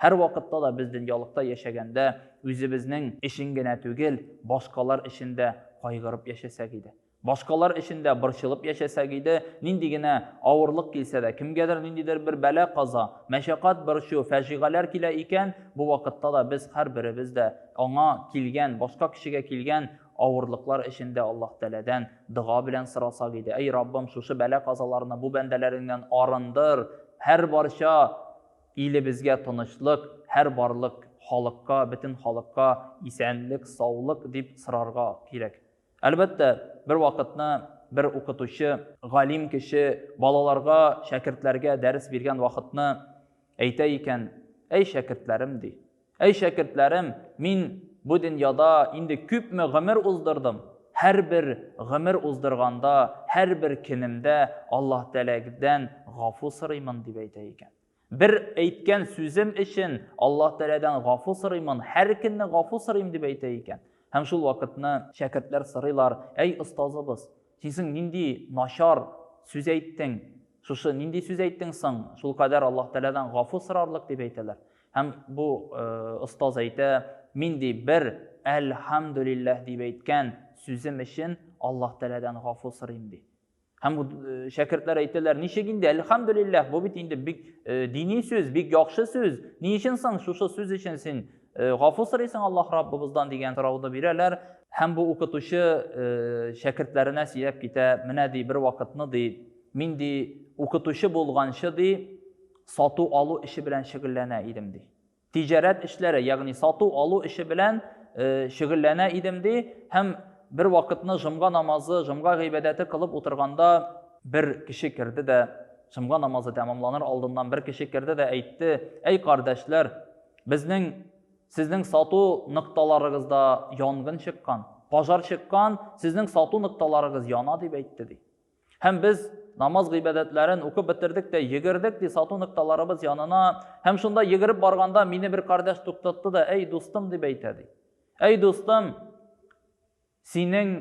Һәрвакытта да без дөньялыкта яшәгәндә үзебезнең өчен генә түгел, башкалар өчен дә кайгырып яшәсәк иде. Башкалар өчен дә борчылып яшәсәк иде, нинди генә авырлык килсә дә, кемгәдер ниндидер бер бәла-каза, мәшәкать, борчу, фәҗигаләр килә икән, бу вакытта да без һәрберебез дә аңа килгән, башка кешегә килгән авырлыклар өчен дә Аллаһ Тәгаләдән дога белән сорасак иде, Әй Раббым, шушы бәла-казаларны бу бәндәләреңнән арындыр, һәрбарча Илебезгә тынычлык, һәр барлык халыкка, бөтен халыкка исәнлек, саулык дип сорарга кирәк. Әлбәттә, бервакытны бер укытучы, галим кеше балаларга, шәкертләргә дәрес биргән вакытны әйтә икән, Әй, шәкертләрем, ди, Әй шәкертләрем, мин бу дөньяда инде күпме гомер уздырдым. Һәрбер гомер уздырганда, һәрбер көнемдә Аллаһ Тәгаләдән гафу сорыймын, дип әйтә икән. Бер әйткән сүзем өчен Аллаһ Тәгаләдән гафу сорыймын, һәр көнне гафу сорыйм, дип әйтә икән. Һәм шул вакытны шәкертләр сорыйлар, Әй остазыбыз, Син соң нинди начар сүз әйттең, шушы нинди сүз әйттең соң, шул кадәр Аллаһ Тәгаләдән гафу сорарлык дип әйтәләр. Һәм бу остаз әйтә, мин ди бер әлхәмдүлилләһ дип әйткән сүзем өчен Аллаһ Тәгаләдән гафу сорыйм ди. Һәм бу шәкертләр әйтәләр, ничек инде әлхәмдүлилләһ, бу бит инде бик дини сүз, бик яхшы сүз. Ни өчен соң шушы сүз өчен син Э, гафу сорыйсың Аллаһ Раббыбыздан дигән сорауны бирәләр һәм бу укытучы э, шәкертләренә сөйләп китә, менә ди бер вакытны ди, мин ди укытучы булганчы ди сату алу эше белән шөгыльләнә идем ди. Тиҗарәт эшләре, ягъни сату алу эше белән э, шөгыльләнә идем ди һәм бер вакытны жомга намазы, жомга гыйбадәте кылып утырганда бер кеше керде дә жомга намазы тәмамланыр алдыннан бер кеше керде дә әйтте, әй кардәшләр, Безнең, сезнең сату нокталарыгызда янгын чыккан, пожар чыккан, сезнең сату нокталарыгыз яна, дип әйтте, ди. Һәм без намаз гыйбадәтләрен укып бетердек тә йөгердек, ди, сату нокталарыбыз янына. Һәм шунда йөгереп барганда мине бер кардәш туктатты да, әй, дустым, дип әйтә, ди. Әй, дустым, Синең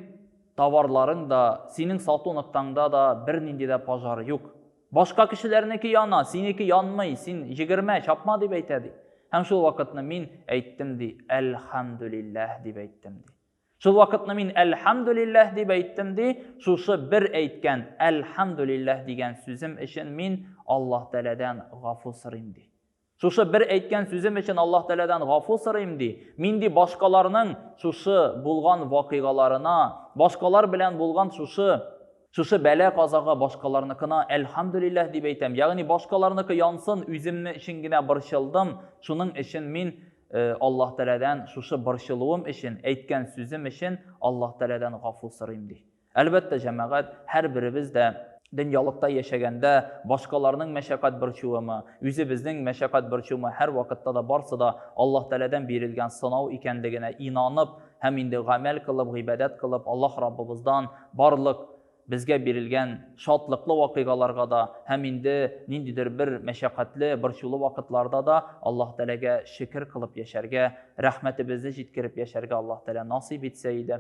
товарларың да, синең сату ноктаңда да бернинди дә пожар юк. Башка кешеләрнеке яна, синеке янмый, син җигермә, чапма дип әйтә, ди. Һәм шул вакытны мин әйттем, ди, әлхәмдүлилләһ дип әйттем, ди. Шул вакытны мин әлхәмдүлилләһ дип әйттем, ди, шушы бер әйткән әлхәмдүлилләһ дигән сүзем өчен мин Аллаһ Тәгаләдән гафу сорыйм, ди. Шушы бер әйткән сүзем өчен Аллаһ Тәгаләдән гафу сорыйм, ди. Мин ди башкаларның шушы булган вакыйгаларына, башкалар белән булган шушы Шушы бәла-казага башкаларныкына әлхәмдүлилләһ дип әйтәм. Ягъни башкаларныкы янсын, үземне өчен генә борчылдым. Шуның өчен мин э, Аллаһ Тәгаләдән шушы борчылуым өчен, әйткән сүзем өчен Аллаһ Тәгаләдән гафу сорыйм ди. Әлбәттә, җәмәгать, һәрберебез дә дөньялыкта яшәгәндә башкаларның мәшәкать борчуымы, үзебезнең мәшәкать борчуымы һәрвакытта да барсы да Аллаһ Тәгаләдән бирелгән сынау икәнлегенә инанып һәм инде гамәл кылып, гыйбадәт кылып, Аллаһ Раббыбыздан барлык безгә бирелгән шатлыклы вакыйгаларга да һәм инде ниндидер бер мәшәкатьле, борчулы вакытларда да Аллаһ Тәгаләгә шөкер кылып яшәргә, рәхмәтебезне җиткереп яшәргә Аллаһ Тәгалә насыйп итсә иде.